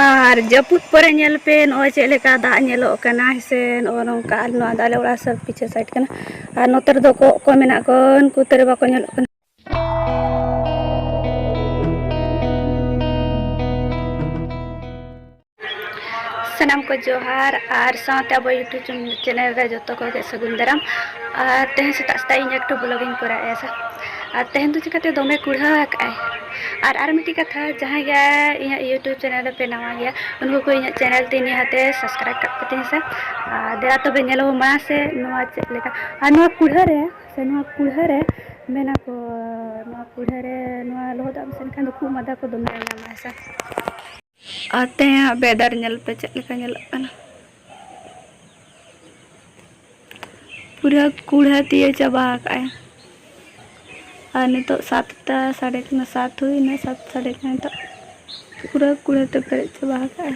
ᱟᱨ ᱡᱟᱹᱯᱩᱫ ᱯᱚᱨᱮ ᱧᱮᱞ ᱯᱮ ᱱᱚᱜᱼᱚᱭ ᱪᱮᱫ ᱞᱮᱠᱟ ᱫᱟᱜ ᱧᱮᱞᱚᱜ ᱠᱟᱱᱟ ᱥᱮ ᱱᱚᱜᱼᱚ ᱱᱚᱝᱠᱟ ᱟᱨ ᱱᱚᱣᱟ ᱫᱚ ᱟᱞᱮ ᱚᱲᱟᱜ ᱥᱟᱹᱨ ᱯᱤᱪᱷᱟᱹ ᱥᱟᱭᱤᱰ ᱠᱟᱱᱟ ᱟᱨ ᱱᱚᱛᱮ ᱨᱮᱫᱚ ᱠᱚᱜ ᱠᱚ ᱢᱮᱱᱟᱜ ᱠᱚ ᱩᱱᱠᱩ ᱛᱮᱨᱮ ᱵᱟᱠᱚ ᱧᱮᱞᱚᱜ ᱠᱟᱱᱟ ᱥᱟᱱᱟᱢ ᱠᱚ ᱡᱚᱦᱟᱨ ᱟᱨ ᱥᱟᱶᱛᱮ ᱟᱵᱚ ᱤᱭᱩᱴᱩᱵᱽ ᱪᱮᱱᱮᱞ ᱨᱮ ᱡᱚᱛᱚ ᱠᱚᱜᱮ ᱥᱟᱹᱜᱩᱱ ᱫᱟᱨᱟᱢ ᱟᱨ ᱛᱮᱦᱮᱧ ᱥᱮᱛᱟᱜ ᱥᱮᱛᱟᱜ ᱤᱧ ᱮᱠᱴᱩ ᱵᱞᱚᱜᱤᱧ ᱠᱚᱨᱟᱣᱮᱫᱼᱟ ᱟᱨ ᱛᱮᱦᱮᱧ ᱫᱚ ᱪᱤᱠᱟᱹᱛᱮ ᱫᱚᱢᱮ ᱠᱩᱲᱦᱟᱹ ᱟᱠᱟᱫᱼᱟᱭ ᱟᱨ ᱟᱨ ᱢᱤᱫᱴᱤᱡ ᱠᱟᱛᱷᱟ ᱡᱟᱦᱟᱸᱭ ᱜᱮ ᱤᱧᱟᱹᱜ ᱤᱭᱩᱴᱩᱵᱽ ᱪᱮᱱᱮᱞ ᱨᱮᱯᱮ ᱱᱟᱣᱟ ᱜᱮᱭᱟ ᱩᱱᱠᱩ ᱠᱚ ᱤᱧᱟᱹᱜ ᱪᱮᱱᱮᱞ ᱛᱮ ᱱᱤᱦᱟᱹᱛᱮ ᱥᱟᱵᱥᱠᱨᱟᱭᱤᱵᱽ ᱠᱟᱜ ᱯᱮ ᱛᱤᱧ ᱥᱮ ᱟᱨ ᱫᱮᱞᱟ ᱛᱚᱵᱮ ᱧᱮᱞ ᱟᱵᱚᱱ ᱢᱟᱲᱟᱝ ᱥᱮ ᱱᱚᱣᱟ ᱪᱮᱫ ᱞᱮᱠᱟ ᱟᱨ ᱱᱚᱣᱟ ᱠᱩᱲᱦᱟᱹ ᱨᱮ ᱥᱮ ᱱᱚᱣᱟ ᱠᱩᱲᱦᱟᱹ ᱨᱮ ᱢᱮᱱᱟ ᱠᱚ ᱱᱚᱣᱟ ᱠᱩᱲᱦᱟᱹ ᱨᱮ ᱱᱚᱣᱟ ᱞᱚᱦᱚᱫᱟᱜ ᱮᱢ ᱥᱮᱱ ᱠᱷᱟᱱ ᱫᱚ ᱠᱷᱩᱜ ᱢᱟᱫᱟ ᱠᱚ ᱫᱚᱢᱮ ᱧᱟᱢᱟ ᱦᱮᱸ ᱥᱮ ᱟᱨ ᱛᱮᱦᱮᱧᱟᱜ ᱵᱮᱫᱟᱨ ᱧᱮᱞ ᱯᱮ ᱪᱮᱫ ᱞᱮᱠᱟ ᱧᱮᱞᱚᱜ ᱠᱟᱱᱟ ᱯᱩᱨᱟᱹ ᱠᱩᱲᱦᱟᱹ ᱛᱤᱭᱟᱹ ᱪᱟᱵᱟ ᱟᱠᱟᱫᱼᱟᱭ ᱟᱨ ᱱᱤᱛᱚᱜ ᱥᱟᱛᱴᱟ ᱥᱟᱲᱮ ᱠᱟᱱᱟ ᱥᱟᱛ ᱦᱩᱭᱱᱟ ᱥᱟᱛ ᱥᱟᱲᱮ ᱠᱟᱱᱟ ᱱᱤᱛᱚᱜ ᱯᱩᱨᱟᱹ ᱠᱩᱲᱦᱟᱹ ᱛᱮ ᱯᱮᱨᱮᱡ ᱪᱟᱵᱟ ᱟᱠᱟᱫᱼᱟᱭ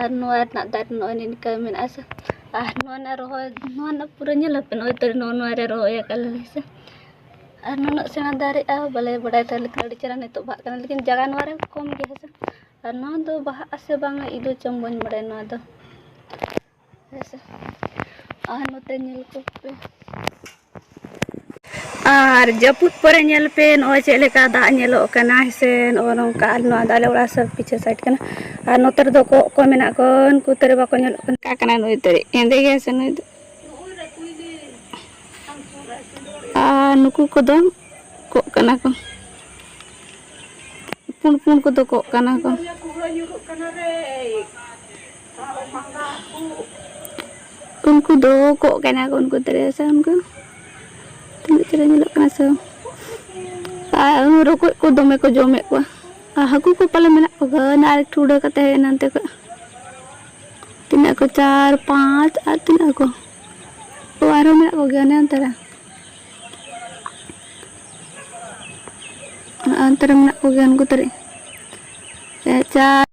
ᱟᱨ ᱱᱚᱣᱟ ᱨᱮᱱᱟᱜ ᱫᱟᱨᱮ ᱱᱚᱜᱼᱚᱭ ᱱᱤᱝᱠᱟᱹ ᱢᱮᱱᱟᱜᱼᱟ ᱥᱮ ᱟᱨ ᱱᱚᱣᱟ ᱨᱮᱱᱟᱜ ᱨᱚᱦᱚᱭ ᱱᱚᱣᱟ ᱨᱮᱱᱟᱜ ᱯᱩᱨᱟᱹ ᱧᱮᱞ ᱟᱯᱮ ᱱᱚᱜᱼᱚᱭ ᱛᱚ ᱱᱚᱜᱼᱚ ᱱᱚᱣᱟ ᱨᱮ ᱨᱚᱦᱚᱭ ᱟᱠᱟᱫ ᱞᱮ ᱥᱮ ᱟᱨ ᱱᱩᱱᱟᱹᱜ ᱥᱮᱬᱟ ᱫᱟᱨᱮᱜᱼᱟ ᱵᱟᱞᱮ ᱵᱟᱰᱟᱭ ᱛᱟᱦᱮᱸ ᱞᱮᱠᱷᱟᱱ ᱟᱹᱰᱤ ᱪᱮᱦᱨᱟ ᱱᱤᱛᱚᱜ ᱵᱟᱦᱟᱜ ᱠᱟᱱᱟ ᱞᱮᱠᱤᱱ ᱡᱟᱭᱜᱟ ᱱᱚᱣᱟ ᱨᱮ ᱠᱚᱢ ᱜᱮᱭᱟ ᱦᱮᱸ ᱥᱮ ᱟᱨ ᱱᱚᱣᱟ ᱫᱚ ᱵᱟᱦᱟᱜ ᱟᱥᱮ ᱵᱟᱝ ᱤᱫᱤ ᱪᱚᱝ ᱵᱟᱹᱧ ᱵᱟᱲᱟᱭᱟ ᱱᱚᱣᱟ ᱫᱚ ᱦᱮᱸᱥᱮ ᱟᱨ ᱱᱚᱛᱮ ᱧᱮᱞ ᱠᱚᱯᱮ ᱟᱨ ᱡᱟᱹᱯᱩᱫ ᱯᱚᱨᱮ ᱧᱮᱞ ᱯᱮ ᱱᱚᱜᱼᱚᱭ ᱪᱮᱫ ᱞᱮᱠᱟ ᱫᱟᱜ ᱧᱮᱞᱚᱜ ᱠᱟᱱᱟ ᱥᱮ ᱱᱚᱜᱼᱚ ᱱᱚᱝᱠᱟ ᱟᱨ ᱱᱚᱣᱟ ᱫᱟᱨᱮ ᱚᱲᱟᱜ ᱥᱚᱵ ᱯᱤᱪᱷᱮ ᱥᱟᱭᱤᱰ ᱠᱟᱱᱟ ᱟᱨ ᱱᱚᱛᱮ ᱨᱮᱫᱚ ᱠᱚᱸᱜ ᱠᱚ ᱢᱮᱱᱟᱜ ᱠᱚ ᱩᱱᱠᱩ ᱛᱟᱹᱨᱮ ᱵᱟᱠᱚ ᱧᱮᱞᱚᱜ ᱠᱟᱱᱟ ᱚᱠᱟ ᱠᱟᱱᱟᱭ ᱱᱩᱭ ᱛᱟᱹᱨᱮ ᱦᱮᱸᱫᱮ ᱜᱮᱭᱟᱭ ᱥᱮ ᱱᱩᱭ ᱫᱚ ᱟᱨ ᱱᱩᱠᱩ ᱠᱚᱫᱚ ᱠᱚᱸᱜ ᱠᱟᱱᱟ ᱠᱚ ᱯᱩᱸᱰ ᱯᱩᱸᱰ ᱠᱚᱫᱚ ᱠᱚᱸᱜ ᱠᱟᱱᱟ ᱠᱚ ᱩᱱᱠᱩ ᱫᱚ ᱠᱚᱜ ᱠᱟᱱᱟ ᱠᱚ ᱩᱱᱠᱩ ᱛᱟᱨᱮ ᱥᱮ ᱩᱱᱠᱩ ᱛᱤᱱᱟᱹᱜ ᱪᱮᱦᱨᱟ ᱧᱮᱞᱚᱜ ᱠᱟᱱᱟ ᱥᱮ ᱟᱨ ᱨᱚᱠᱚᱡ ᱠᱚ ᱫᱚᱢᱮ ᱠᱚ ᱡᱚᱢᱮᱫ ᱠᱚᱣᱟ ᱟᱨ ᱦᱟᱹᱠᱩ ᱠᱚ ᱯᱟᱞᱮ ᱢᱮᱱᱟᱜ ᱠᱚᱣᱟ ᱟᱨ ᱮᱠᱴᱩ ᱩᱰᱟᱹ ᱠᱟᱛᱮ ᱦᱮᱡ ᱮᱱᱟ ᱚᱱᱛᱮ ᱠᱷᱚᱡ ᱛᱤᱱᱟᱹᱜ ᱠᱚ ᱪᱟᱨ ᱯᱟᱸᱪ ᱟᱨ ᱛᱤᱱᱟᱹᱜ ᱠᱚ ᱛᱚ ᱟᱨᱦᱚᱸ ᱢᱮᱱᱟᱜ ᱠᱚᱜᱮᱭᱟ ᱚᱱᱮ ᱚᱱᱛᱮ ᱨᱮ ᱚᱱᱛᱮ ᱨᱮ ᱢᱮᱱᱟᱜ ᱠᱚᱜᱮᱭᱟ ᱩᱱᱠᱩ ᱛᱟᱨᱮ ᱪᱟᱨ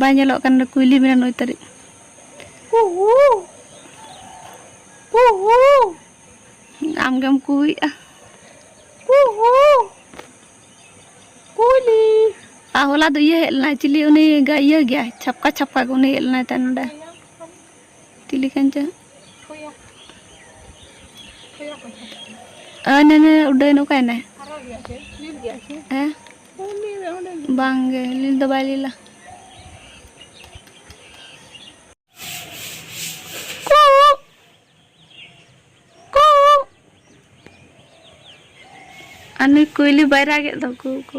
ᱵᱟᱭ ᱧᱮᱞᱚᱜ ᱠᱟᱱ ᱠᱩᱭᱞᱤ ᱢᱮᱱᱟ ᱱᱩᱭ ᱛᱟᱹᱨᱤᱡ ᱟᱢᱜᱮᱢ ᱠᱩᱭᱮᱜᱼᱟ ᱠᱩᱭᱞᱤ ᱟᱨ ᱦᱚᱞᱟ ᱫᱚ ᱤᱭᱟᱹ ᱦᱮᱡ ᱞᱮᱱᱟᱭ ᱪᱤᱞᱤ ᱩᱱᱤ ᱤᱭᱟᱹ ᱜᱮᱭᱟᱭ ᱪᱷᱟᱯᱠᱟ ᱪᱷᱟᱯᱠᱟ ᱜᱮ ᱩᱱᱤ ᱦᱮᱡ ᱞᱮᱱᱟᱭ ᱛᱟᱭ ᱱᱚᱰᱮ ᱪᱤᱞᱤ ᱠᱟᱱ ᱪᱚ ᱟᱨ ᱱᱟᱱᱮ ᱩᱰᱟᱹᱭ ᱱᱚᱠᱟ ᱮᱱᱟ ᱦᱮᱸ ᱵᱟᱝ ᱜᱮ ᱞᱤᱞ ᱫᱚ ᱵᱟᱭ ᱞᱤᱞᱟ ᱟᱨ ᱱᱩᱭ ᱠᱩᱭᱞᱤ ᱵᱟᱭ ᱨᱟᱜᱮᱫ ᱫᱚ ᱠᱩ ᱠᱩ